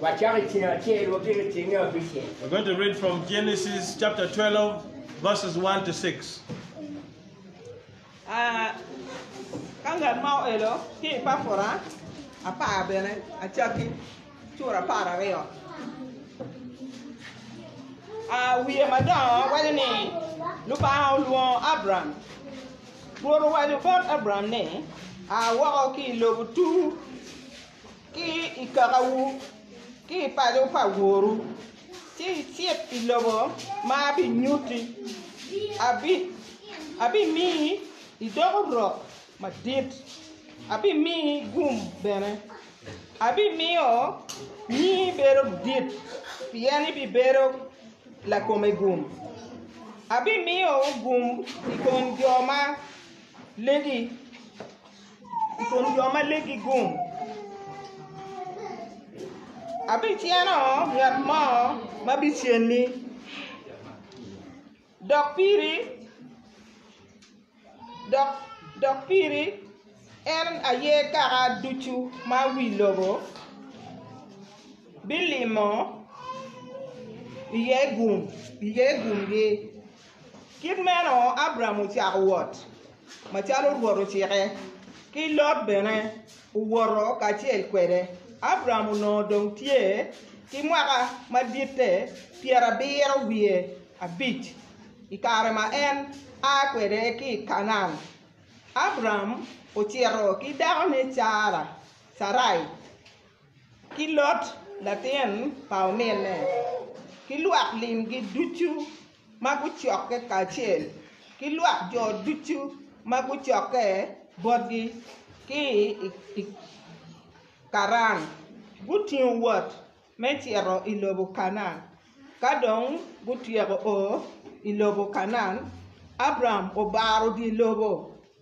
Wacako i ceng acel wabyino i ceng me abicel. We're going to read from Genesis chapter 12 verses 1 to 6. Ah, ka ngat ma oelo ki Epafora apar bene acakki cura apar aryo. Ah, wiye madongo waco ni Lubanga olwongo Abram. Rwot owaco bot Abram ni, A woko ki i lobo tur ki i kakawu ki i paco pa woru, ci icit i lobo ma abinyutti. Abimiyi idoko rok madit, abimiyi gum bene. Abimiyo nyingi bedo dit pien ibibedo lakome gum. Abimiyo gum i kom jo ma legi. i kom jo ma leggi gung. Abiceno ngat mo ma bicenni, dok piri dok dok piri en aye kaka ducu ma wi lobo bilimo iye gumgi. Kit meno Abram ocako wot, macalo Rwot ocike, ki Lot bene owoto kacel kwede. Abram onongo dong tye ki mwaka maditte pyerabiro wiye abic i kare ma en a kwede ki i Kanaan. Abram ocito ki dakone Cara, Carai, ki Lot latin pa ominne, ki lwak limgi ducu ma gucokke kacel ki lwak jo ducu ma gucokke botgi ki i Karan, gutingo wot me cito i lobo Kanaan. Ka dong gutyeko o i lobo Kanaan, Abram obaro dye lobo.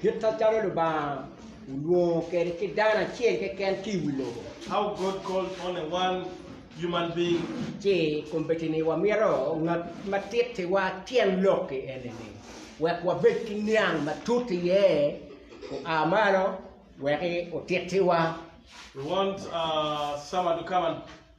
Kit acalo Lubanga olwongo kede ki dano acel keken ki i wi lobo, ci kombeddi-ni wamito ngat ma tittiwa tyen lok-ki eni-ni, wek wabed ki niang matut iye, oa malo wek otittiwa.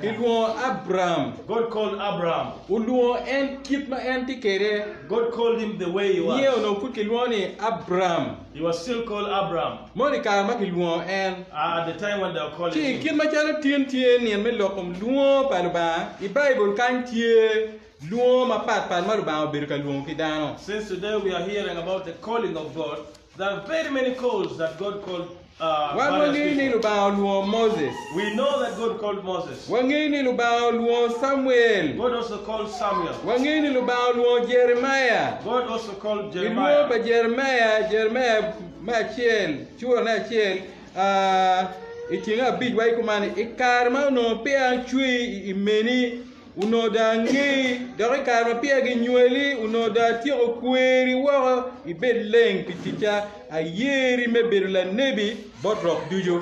Kilwongo Abram. God called Abram. Olwongo en kit ma en tye kwede. God called him the way he was. Nyiye onongo pud kilwongo ni Abram. He was still called Abram. Moni kare ma kilwongo en. Uh, at the time when they were calling Ki him. kit macalo tin tye nino me lok kom lwongo pa Lubanga, i Baibul kany tye lwongo mapat pat ma Lubanga obedo ka lwongo ki dano. Since today we are hearing about the calling of God, there are very many calls that God called Wan wangeyo ni Lubanga olwongo Moses. Wangeyo ni Lubanga olwongo Camuel. Wangeyo ni Lubanga olwongo Jeremia. I lwongo pa Jeremia, Jeremia me acel, curane acel, i tyenge abic wa i kuman-ni, i kare ma onongo peya ocweyi i meni, Onongo dong ange, dok i kare ma peya ginywali, onongo dong atyeko kweri woko ibed leng pi ticca, ayeri me bedo lanebi bot rok ducu.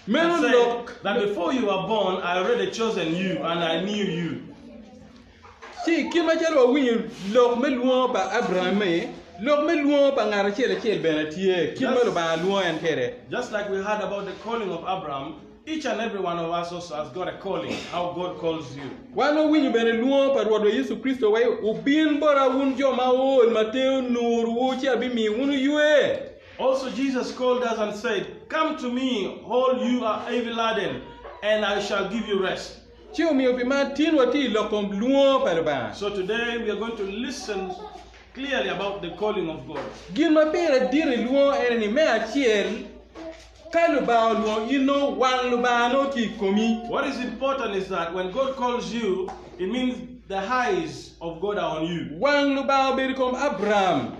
Meno lok. Ci kit macalo wawinyo lok me lwongo pa Abraim-mi, lok me lwongo pa ngat acel acel bene tye kit ma Lubanga lwongo en kwede. Wan wawinyo bene lwongo pa Rwotwa Yecu Kricito wa ni, Wubin bota wun jo ma ool ma ter onurowu, ci abimiyo wun ywer. Ci omiyo pi mar tin watye i lok kom lwongo pa Lubanga. Gin ma pire dit i lwongo ene ni, me acel, ka Lubanga olwongo in nongo wang Lubanga nongo tye i komi. Wang Lubanga obedo i kom Abraram.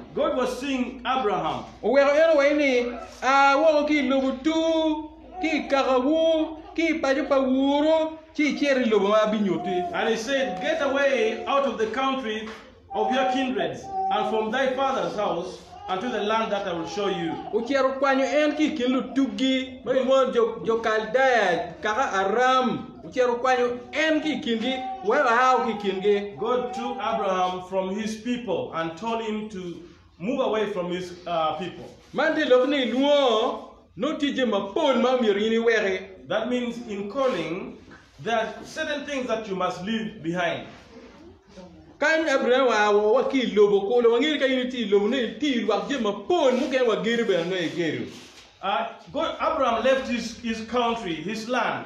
Oweko en owai ni, A woko ki i lobo tur. ki i kakawu, ki i paco pa wuru, ci icit i lobo ma abinyutti. And he said, Get away out of the country of your kindreds, and from thy father's house, unto the land that I will show you. Ocito okwanyo en ki i kin lutuggi ma gilwongo jo, jo Kaldaya, kaka Aram, ocito okwanyo en ki i kingi, weko aa woko ki i kingi. God took Abraham from his people and told him to move away from his people. Man tye lok ni ilwongo, nongo tye jami mapol ma myero in iweki. That means in calling, there are certain things that you must leave behind. Ka in Abraham wa woko wa ki i lobo kulu, wangeyo ni ka in itye i lobo nongo itiyo lwak jami mapol, mukene wa gedo bene nongo igedo. Uh, God, Abraham left his, his country, his land.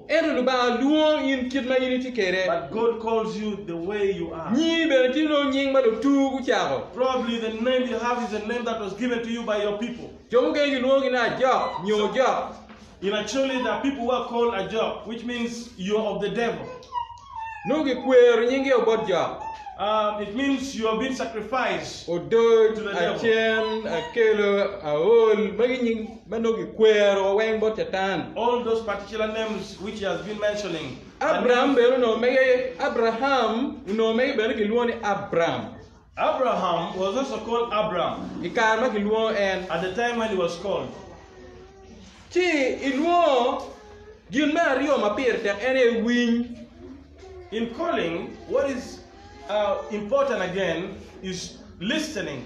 Ento Lubanga lwongo in kit ma in itye kwede. Nyingi bene tye nongo nying ma lutur gucako. Jo mukene gilwongogi ni ajok nyo ojok. Nongo kikwero nyingio bot jok. Odoc, Acen, Akelo, Aol, magi nying. ma nongo gikwero weng bot Catan. All those particular names which he has been mentioning are Abram names. bene onongo mege Abraham, onongo mege bene gilwongo ni Abram Abraham was also called Abram i kare ma gilwongo en. at the time when he was called. Ci ilwongo gin me aryo ma pire tek, en aye winy. In calling, what is uh, important again is listening.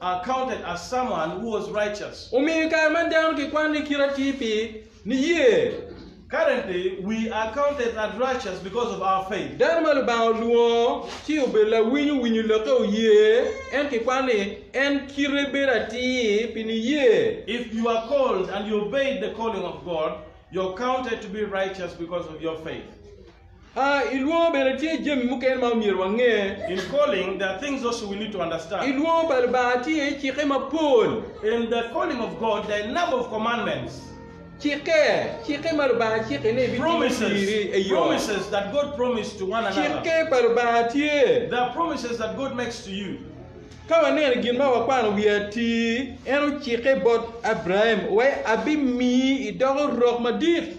are counted as someone who was righteous. Omiyo i kare man dano gikwanne i kite atir pi niye. Currently, we are counted as righteous because of our faith. Dano ma Lubanga olwongo ci obedo lawiny owinyo lokke oye, ento kikwanno ni en kite bedo atir pi niye. If you are called and you obeyed the calling of God, you're counted to be righteous because of your faith. I lwongo bene tye jami mukene ma myero wange. In calling there are things also we need to understand. I lwongo pa Lubanga tye iye cikke mapol. In the calling of God there are a number of commandments. Cikke, cikke ma Lubanga ciki ni ibitimo Promises, giri eyo. promises that God promised to one another. Cikke pa Lubanga tye. There are promises that God makes to you. Ka waneno i gin ma wakwano wiye atir, en ocikke bot Abraim wek abimiyi idoko rok madit.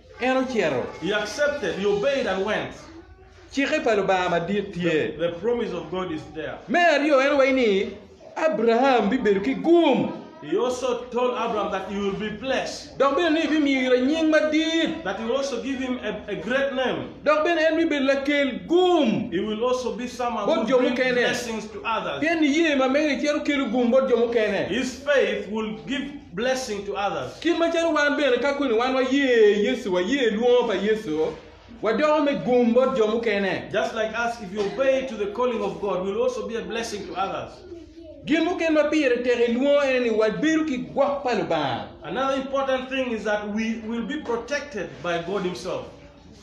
En ocito. He accepted, he obeyed and went. Cikke pa Lubanga madit tye. The promise of God is there. Me aryo, en owaco ni Abraham bibedo ki gum. He also told Abraham that he will be blessed. Dok bene ni ebimiyo ira nying madit. That he will also give him a, a great name. Dok bene en bibedo lakel gum. He will also be someone who Bot jo brings mukene. blessings to others. Pien niye ma mege cito kelo gum bot jo mukene. His faith will give blessing to others. Kit macalo wan bene ka koni wan waye Yecu, waye lwongo pa Yecu, wadoko me gum bot jo mukene. Just like us, if we obey to the calling of God, we will also be a blessing to others. Gin mukene ma pire tek i lwongo en ni wabedo ki gwok pa Lubanga. Another important thing is that we will be protected by God Himself.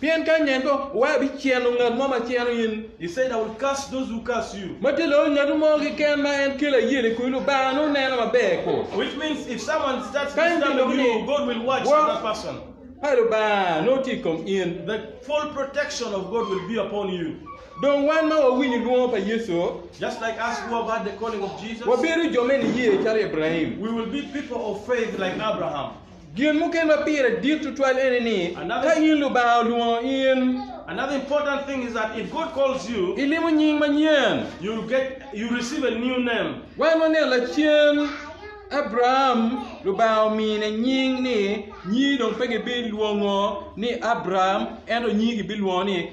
Pien ka anyen ko, we abiceno ngat mo ma ceno in. He said, I will curse those who curse you. Ma tye loyo ngatu mo keken ma en kelo ayel i kwi Lubanga nongo neno maber ko. Which means if someone starts Ka in disturbing giloko ni, you, God will watch Woo! that person. Pa Lubanga nongo tye i kom in. The full protection of God will be upon you. Dong wan ma wawinyo lwongo pa Yecu, Just like us who have heard the calling of Jesus, wabedo jo me niye calo Ebraim. we will be people of faith like Abraham. Gin mukene ma pire dit tutwal ene ni, ka in Lubanga olwongo in, Another important thing is that if God calls you, ilimo nying manyen. you get you receive a new name. Wan waneno lacen Abraham Lubanga omine nying ni nyi dong pe gibilwongo ni Abram ento nyi gibilwongo ni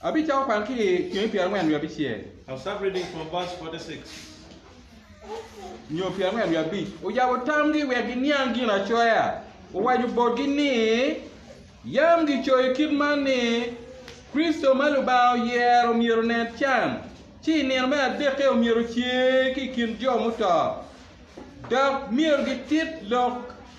Abicako kwan ki i kine me pyerangwen wiye abicel. I'll start reading from verse 46. Nyo pyerangwen wiye abic. Oyabo tamgi wek giniang gin acoya. Owaco botgi ni, Yam gicoyo kit man ni, Kricito ma Lubanga oyero myero onen can, ci i nino me adekke omyero ocer ki i kin jo muto, dok myero gitit lok.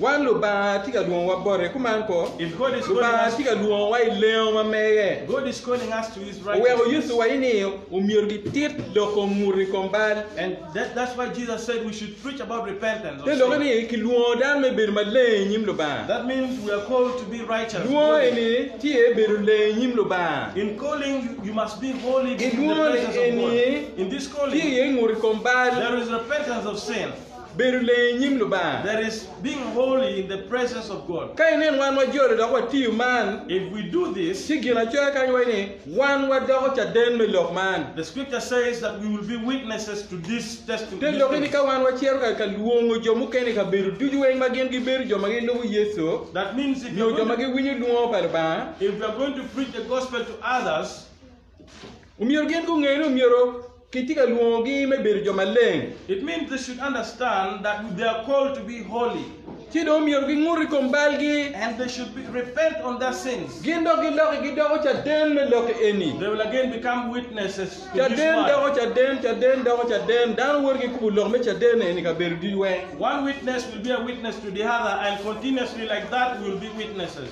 Wan Lubanga tye ka lwongowa bote, kuman ko, Lubanga tye ka lwongowa i lengo ma mege. Oweko Yecu owaco ni omyero gitit loko ngute i kom bal. Te lokke ni kilwongo dano me bedo maleng i nyim Lubanga. Lwongo eni tye bedo leng i nyim Lubanga. I lwongo eni tye iye ngut i kom bal. bedo leng i nyim Lubanga. That is, being holy in the presence of God. Ka inen wan wajolo dok watiyo man, If we do this, ci Ginacoya kany waco ni wan wadoko caden me lok man. the Scripture says that we will be witnesses to this testi- Te this lokke ni truth. ka wan wacito ka, ka lwongo jo mukene i kabedo ducu weng ma gin gibedo jo ma gilubo Yecu, That means if we nyo are jo going ma to, giwinyo lwongo pa Lubanga, if we are going to preach the gospel to others, Omyero gin gunge ni omyero kitye ka lwongogi me bedo jo maleng. It means they should understand that they are called to be holy. Ci dong omyero gingut i kom balgi. And they should be, repent on their sins. Gin dok giloki gidoko caden me lokke eni. They will again become witnesses to this world. Caden doko caden, caden doko caden. Dano woto ki kubo lok me caden eni kabedo ducu weng. One witness will be a witness to the other and continuously like that we will be witnesses.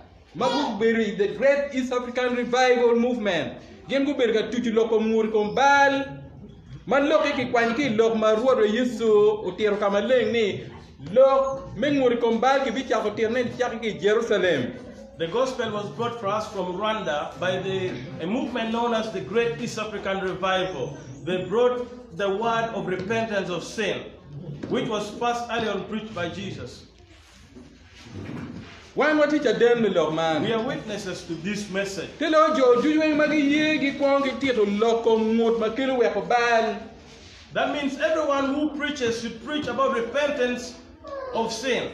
ma gubedo i The Great East African Revival Movement gin gubedo ka tuco lok pa mur i kom bal, ma lokke kikwanyo ki i lok ma Rwotwa Yecu otito ka maleng ni lok me ngut i kom bal kibicako titone nicakke ki i Jerucalem. The gospel was brought for us from Rwanda by the, a movement known as the Great East African Revival. They brought the word of repentance of sin, which was first early on preached by Jesus. Wan watye caden me lok man. We are witnesses to this message. Te loo jo ducu weng ma giye gikwongo gitito lok kom ngut ma kelo weko bal. That means everyone who preaches should preach about repentance of sin.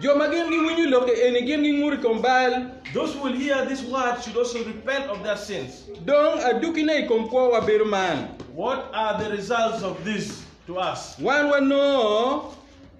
Jo ma gin giwinyo lok eni gin gingut i kom bal. Those who will hear this word should also repent of their sins. Dong adukine i kom kwowa bedo man. What are the results of this to us? Wan wanongo.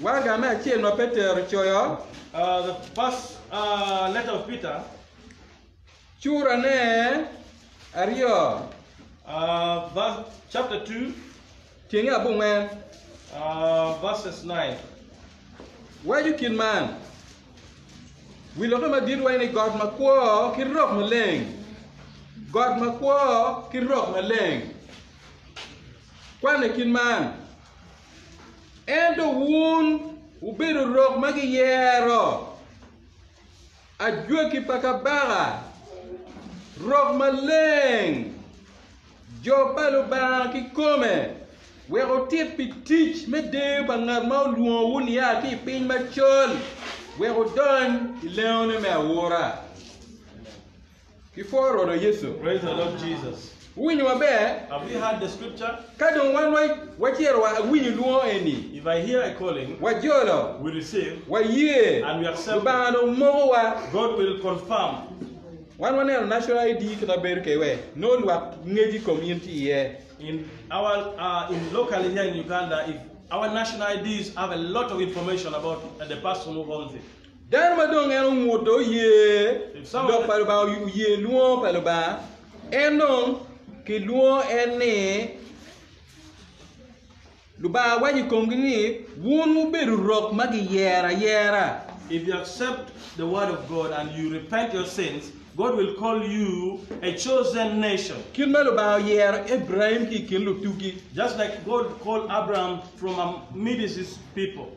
Waraga me acel ma Petero coyo. The first uh, letter of Peter. Curane aryo. Uh, verse, chapter 2. Tyenge abungwen. Uh, verses 9. Waco kit man. Wi lokke madit waco ni got makwo ki rok maleng. Got makwo ki rok maleng. kwanne kit man, Ento wun wubedo rok ma giyero, ajwaki pa kabaka, rok maleng, jo pa Lubanga kikome, wek wutit pi tic me deyo pa Ngat ma olwongowu nia ki i piny macol wek wudony i lengone me aura. ki pworo Rwotwa Yecu. Praise the Lord Jesus. Wuwinyo maber? Have you heard the scripture? Ka dong wan wa, wacito wa awinyo lwongo eni, If I hear a calling, wajolo, we receive, waye, And we accept. Lubanga dong mokowa. God will confirm. Wan waneno National ID ki ma bedo kewek nongo lwak ngec i kom in tye iye. In our uh, in locally here in Uganda, if our national IDs have a lot of information about the person who owns it. Dano ma dong en onguto ye lok pa Lubanga, oye lwongo pa Lubanga, en dong kilwongo en ni, Lubanga waco i komgi ni, Wun wubedo rok ma giyero ayera. If you accept the word of God and you repent your sins, God will call you a chosen nation. Kit ma Lubanga oyero Abraim ki i kin lutugi. Just like God called Abraham from amidst his people.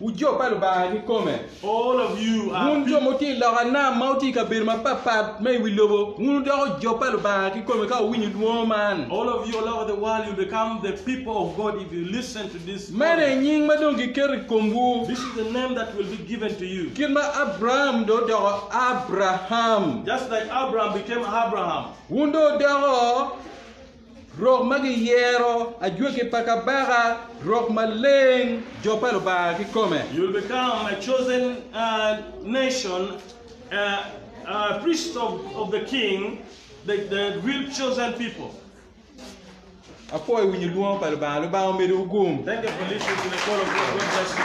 Wu jo pa Lubanga kikome, wun jo ma wutye i loka nam ma wutye i kabedo mapat pat ma i wi lobo, wun wudoko jo pa Lubanga kikome ka wuwinyo lwongo man. Man aye nying ma dong giketo i komwu, kit ma Abraim dong odoko Abraham, wun dong wudoko. Rok ma giyero, ajwagi pa kabaka, rok maleng, jo pa Lubanga kikome. You'll become a chosen nation, a priest of the King, the real chosen people. Apwoyo winyo lwongo pa Lubanga, Lubanga omedowu gum. Thank you for listening to the call of God. God bless you.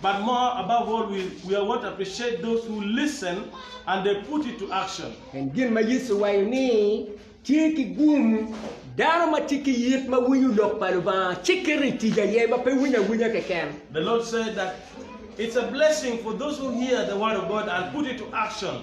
But more above all we we are what appreciate those who listen and they put it to action. En gin ma Yecu owaco ni tye ki gum, dano ma tye ki it ma winyo lok pa Lubanga ci keto i tic aye ma pe winyo awinya keken. The Lord said that it's a blessing for those who hear the word of God and put it to action.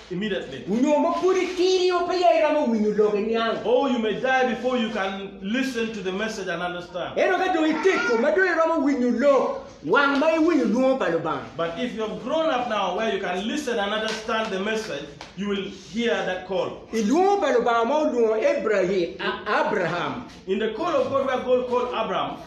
immediately. Onyo ma pud itidio pe ya iromo winyo loge niang. Or you may die before you can listen to the message and understand. Ento ka dong iteko ma dong iromo winyo lok wang ma iwinyo lwongo pa Lubanga. But if you have grown up now where you can listen and understand the message, you will hear that call. I lwongo pa Lubanga ma olwongo Abraham. In the call of God where God called Abraham.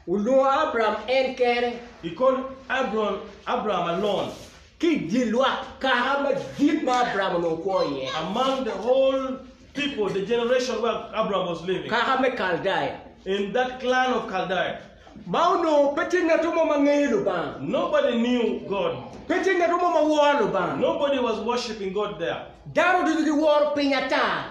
Olwongo Abram en kene i kor Abram alone. Ki i dye lwak kaka madit ma Abram onongo kwo iye. Among the whole people, the generation where Abram was living. Kaka me Kaldaya. In that clan of Kaldaya. Ma onongo pe tye ngat mo ma ngeyo Lubanga. Nobody knew God. Pe tye ngat mo ma woro Lubanga. Nobody was worshiping God there. Dano ducu giworo piny ata.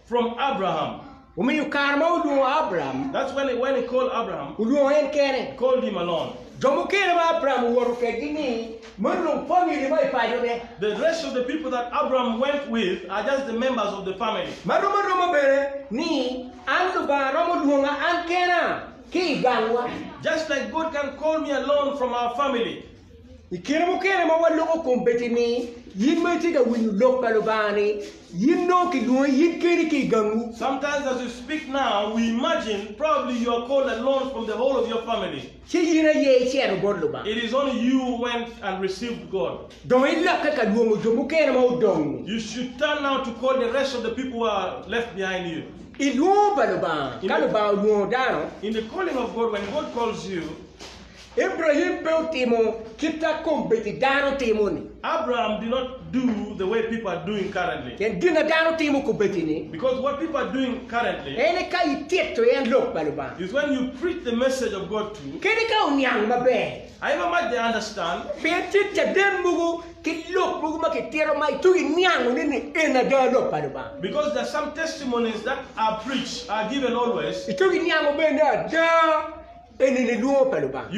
from Abraham. Omiyo kare ma olwongo Abram, That's when he, when he called Abraham, olwongo en kene. called him alone. Jo mukene ma Abram owoto kwedgi-ni, meno dong pamili ma i pacone. The rest of the people that Abraham went with are just the members of the family. Ma rom aroma bene ni, an Lubanga romo lwonga an kena ki i gangwa. Just like God can call me alone from our family. I kine mukene ma waloko kombeddi-ni, in ma itye ka winyo lok pa Lubanga-ni, in nongo kilwongi in keni ki i gangwu. Sometimes as we speak now, we imagine probably you are called alone from the whole of your family. Ci in aye icito bot Lubanga. It is only you who went and received God. Dong ilokke ka lwongo jo mukene ma odong-ngu. You should turn now to call the rest of the people who are left behind you. I lwongo pa Lubanga, ka Lubanga olwongo dano. In the calling of God, when God calls you. Ibrahim pe otimo kit a kombeddi dano timo-ni. Abraham did not do the way people are doing currently. Pien gin a dano timo kombeddi-ni. Because what people are doing currently. En ni ka itito en lok pa Lubanga. Is when you preach the message of God to. Kadi ka oniang maber. I ma much they understand. Pien tye caden mogo ki lok mogo ma kitito ma itung iniango ni ni en ada lok pa Lubanga. Because there are some testimonies that are preached are given always. Itung iniango bene ada. Eni ni lwongo pa Lubanga.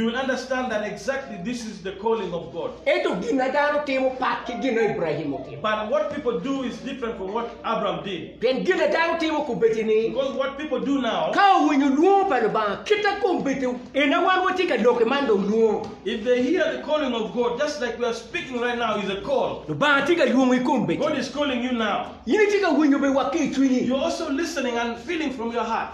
Ento gin na dano timo pat ki gin na Ibrahim otimo. Pien gin na dano timo kobeddi ni, ka owinyo lwongo pa Lubanga, kite kombeddi en na wan watye ka lokke man dong lwongo. Lubanga tye ka lwongo i kombeddi. In itye ka winyo bene wa ki i cwinyi.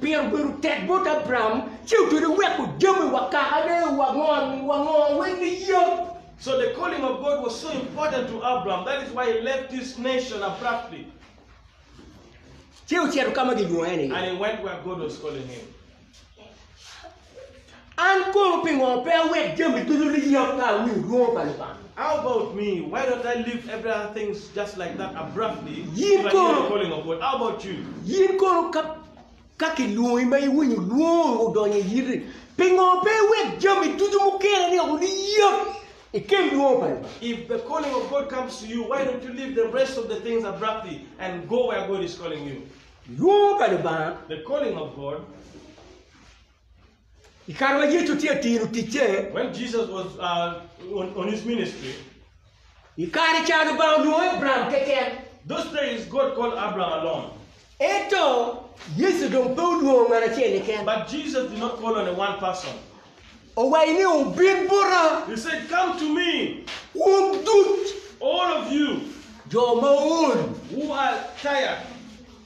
Pire obedo tek bot Abram ci otedo weko jami wa kaka ne wango wango wek giyot. So the calling of God was so important to Abram that is why he left his nation abruptly. Ci ocito ka ma gilwonge ni. And he went where God was calling him. An kono pingo pe awek jami ducu liyab ka awinyo lwongo pa Lubanga? Yin kono ka kilwongi ma iwinyo lwongo odonyo i iti, pingo pe iwek jami ducu mukene-ni woko liyab i kin lwongo pa Lubanga? I kare ma Yecu tye ka tino ticce, When Jesus was uh, on, on his ministry, i kare ca Lubanga olwongo Abraham keken. those days God called Abraham alone. Ento Yecu dong pe olwongo ngat acel keken. But Jesus did not call only one person. Owaco ni, Wubin bota, He said, Come to me, wun duc all of you jo ma ool, who are tired,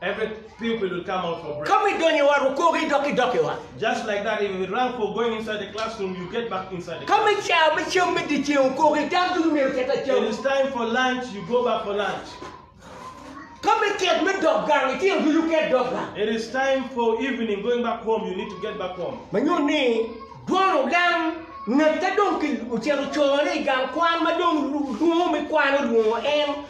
Ka midonyo i ot, wukogi dok idokiwa. Ka me cawa me cam me dyeceng, wukogi, dano ducu myero oket acam. Ka me ket me dok gang, litino ducu wuket dok gang. Ma nyuto ni, dwon olam, ngat ka dong ocito ocone i gang kwan ma dong lwongo me kwan olwongo en,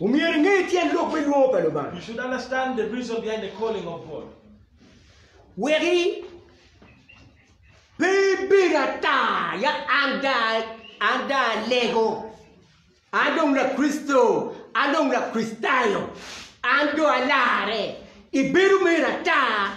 Omyero inge tyen lok me lwongo pa Lubanga. Wek i pe ibed ata ya an da an da alego, an dong Lakricito, an dong Lakricitayo, an do alarre. Ibedo meri ata.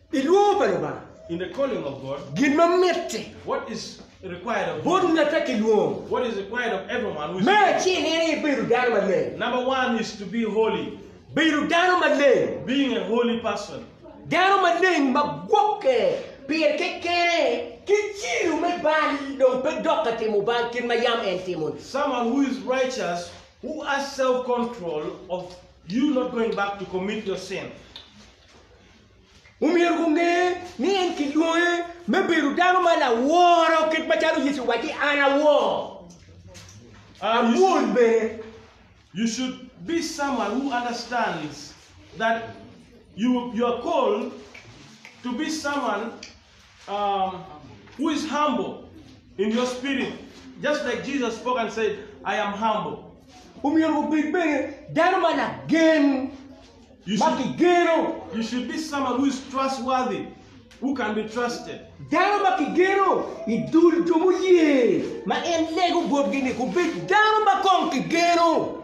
I lwongo pa Lubanga. In the calling of God. Gin ma mitte. What is required of you. Bot ngat ma kilwongo. What is required of everyone who is. Me acel en aye bedo dano maleng. Number one is to be holy. Bedo dano maleng. Being a holy person. Dano maleng ma gwokke pire kekene ki cilo me bal dong pe dok ka timo bal kit ma yam en timo-ni. Someone who is righteous, who has self control of you not going back to commit your sin. Omyero gunge ni en kilwonge me bedo dano ma laworo kit macalo Yecu owaco ni an awor, amwol bene. You should be someone who understands that you are called to be someone Who is humble in your spirit? Just like Jesus spoke and said, I am humble. Omyero wubed bene dano ma lagen, You ma should, kigeno, you should be someone who is trustworthy, who can be trusted. dano ma kigeno i dul jo muye, ma en lego botgi ni gubed dano ma kong kigeno.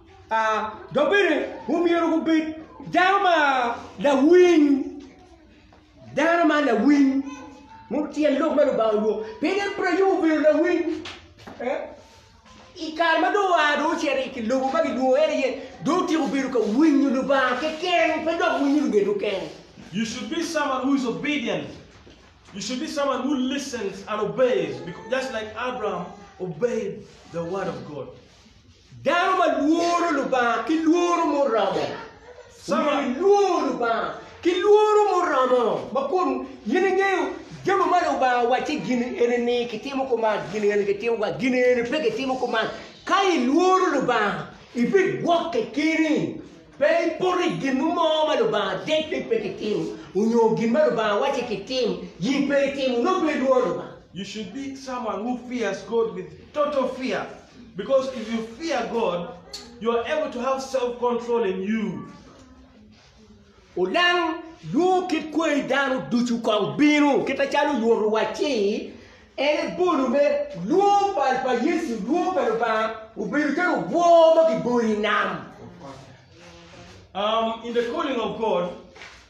Dok bene omyero gubed dano ma lawiny, dano ma lawiny, mogo tyen lok ma Lubanga olwongo. Pien en Ibrahim obedo lawiny, i kare ma dong oa dong ocito i lobo ma gilwongo en iye, dong otyeko bedo ka winyo Lubanga keken, pe dok winyo lugedo mukene. You should be someone who is obedient. You should be someone who listens and obeys, just like Abraham obeyed the word of God. Dano ma lworo Lubanga ki lworo muromo. Sama ilworo Lubanga ki lworo muromo ma kun in ingeyo jami ma Lubanga wacce gin eni ni kitimo kuman, gin eni kitimo kuman, gin eni pe kitimo kuman, ka ilworo Lubanga, ibigwokke keni. Pe ipoto i gin mo ma Lubanga dek ni pe kitim, onyo gin ma Lubanga wacce kitim, in pe itimo, nongo pe ilworo Lubanga. You should be someone who fears God with total fear. Because if you fear God, you are able to have self-control in you. Olang lwongo kit kwai dano ducu kong bino, kita calo oyoto wacci, en e bolo me lwongo pa pa Yecu, lwongo pa Lubanga obedo calo obwo ma kibolo i nam. Um, in the calling of God,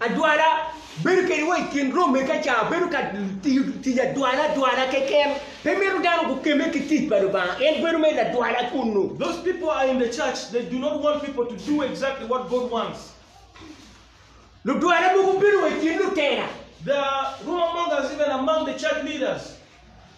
Adwala, Bedo kede wa i kin romme ka ca obedo ka tiyo tic adwala adwala keken, pe mito dano gukemme ki tic pa Lubanga. En bedo me ladwala kunnu. Those people are in the church, they do not want people to do exactly what God wants. Ludwala mogo bedo wa i kin lutela. There are rumor mongers even among the church leaders.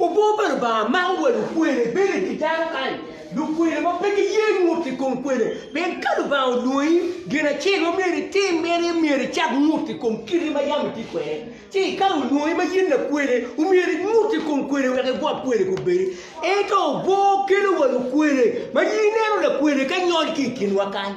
Obwo pa Lubanga mako wa lukwene, bedo i kin dano kany, lukwene ma pe giye ngutto i kom kwene. Pien ka Lubanga olwongi, gin acel ma myero itim mene myero icak ngutto i kom kite ma yam itye kwene. Ci ka olwongi ma in lakwene, omyero ingutto i kom kwene wek igwok kwene kong bedi. Ento obwo kelo wa lukwene ma in ineno lakwene ka nyol ki i kinwa kany.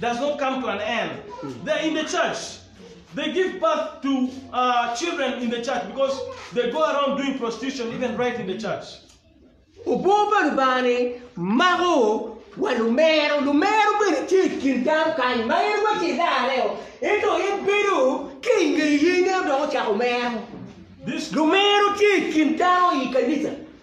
does not come to an end they're in the church they give birth to children in the church because they go around doing prostitution even right in the church. Oboo pa Lubanga ni mako wa lumero, lumero bene tye i kin dano kany ma en waci ilareo ento en bedo ki i nge yen en dok ocako mero. Lumero tye i kin dano i kanisa.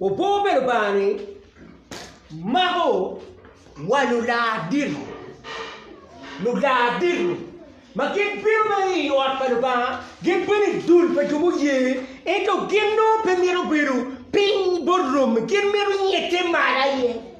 Opwo me Lubanga-ni mako wa lulardilu, lulardilu ma gin bino ma i ot pa Lubanga gin bino i dul pa jo muye ento gin nongo pe mito bedo piny bot romi gin mito ngette malo aye.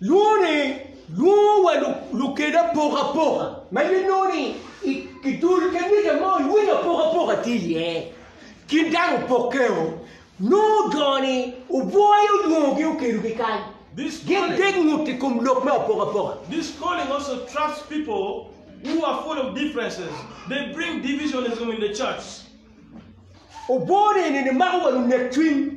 Lwongo ni lwongo wa luked apokapoka ma gin nongo ni i dul kanisa mo iwinyo apokapoka tye iye kin dano pokkeo nongo jo ni obwoyo olwongogi okedo ki kany gin dek nyuto i kom lok me apokapoka. This calling also traps people who are full of differences. They bring divisionism in the church. Obwone ni ni mako wa lunek cwiny.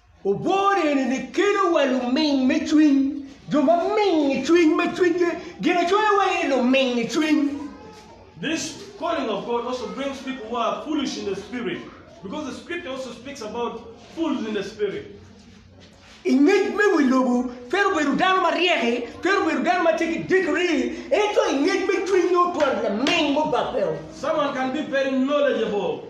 Obwor eni ni kelo wa luming me cwiny, jo ma ming i cwiny ma cwinygi ginacoya wa ni luming i cwiny. This calling of God also brings people who are foolish in the spirit because the scripture also speaks about fools in the spirit. I ngec me wi lobo twero bedo dano ma ryeki, twero bedo dano ma tye ki degree, ento i ngec me cwiny nongo twero laming mubabeo. Someone can be very knowledgeable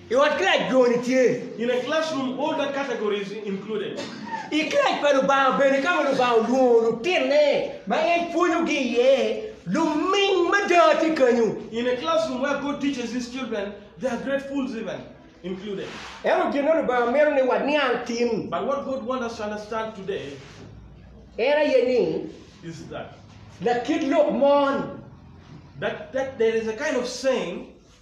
I ot kilac joni tye. In a classroom all the categories included. I kilac pa Lubanga bene ka ma Lubanga olwongo lutinne ma en pwonyogi iye, luming mada tye kenyo. In a classroom where God teaches His children, there are great fools even included. Ento gin ma Lubanga mito ni waniang tin. But what God wants us to understand today. En aye ni. Is that. Lakit lok mon. That that there is a kind of saying.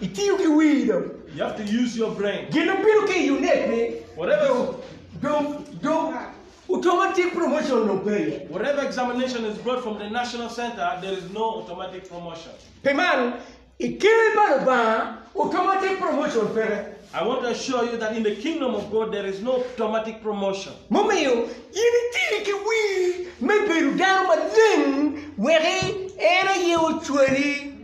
Itiyo ki wii dong. You have to use your brain. Gin ma bino ki i unique ni. Whatever. Dong, dong, automatic promotion dong pe iye. Whatever examination is brought from the national center, there is no automatic promotion. Pi man, i ker pa Lubanga, automatic promotion peke. I want to assure you that in the kingdom of God, there is no automatic promotion. Mumiyo, in iti ki wii me bedo dano maleng weki en aye ocwali.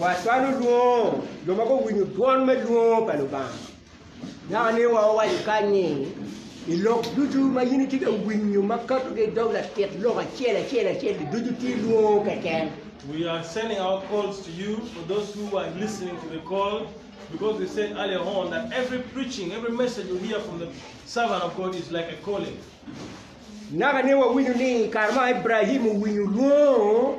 Wacwalo lwongo jo ma guwinyo dwol me lwongo pa Lubanga. Nyaka ni wawaco kany ni, I lok ducu ma in itye ka winyo ma katogi i dog latit lok acel acel acel-li ducu tye lwongo keken. We are sending our calls to you for those who are listening to the call because we said earlier on that every preaching, every message you hear from the servant of God is like a calling. Nyaka ni wawinyo ni kare ma Ibrahim owinyo lwongo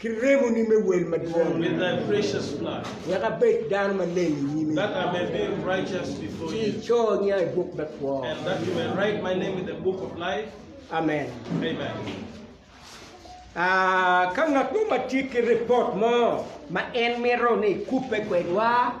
ki remoni me wel madwong, wek abed dano maleng i nyimi, ci ico nyiya i buk me kwo. Amen. Ah, ka ngat mo ma tye ki ripot mo ma en mito ni ikubbe kwedwa,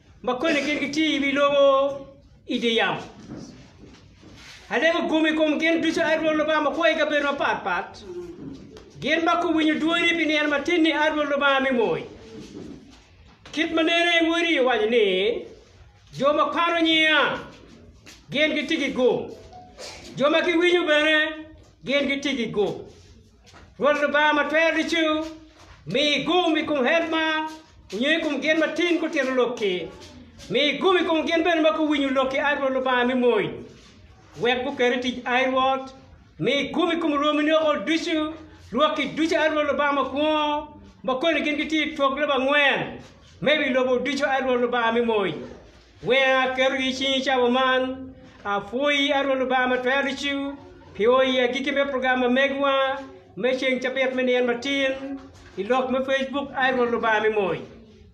ma koni gin gitye i wi lobo i dye yamo. Alego gum i kom gin ducu, ai Rwot Lubanga ma kwoyo i kabedo mapat pat. Gin ma guwinyo dwoni pi nino matin-ni, ai Rwot Lubanga me moi. Kit ma nene i wodi iwaco ni, Jo ma kwano nyinga gin gitye ki gum, jo ma giwinyo bene gin gitye ki gum. Rwot Lubanga ma Twero Ducu mi igum i kom hel ma onyo i kom gin ma tin kutito lok-ki, mi igum i kom gin bene ma guwinyo lok-ki, ai Rwot Lubanga me mony, wek guket i tic, ai Rwot, mi igum i kom romini oko ducu, lwak-ki ducu, ai Rwot Lubanga ma kwongo, ma koni gin gitye i twok lobo angwen me wi lobo ducu, ai Rwot Lubanga me mony. Wenge aketogi i cingi cawa man. Apwoyi, a Rwot Lubanga ma Twero Ducu, pi o i agikki me program ma megiwa me ceng cabit me nino matin i lok me pacebook, ai Rwot Lubanga me mony.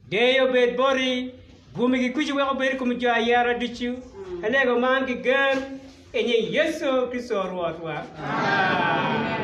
Deyo obed boti, gumi ki kuci wek obed i kom jo ayera ducu. Alego man kigen i nying Yecu Kricito Rwotwa. Amen.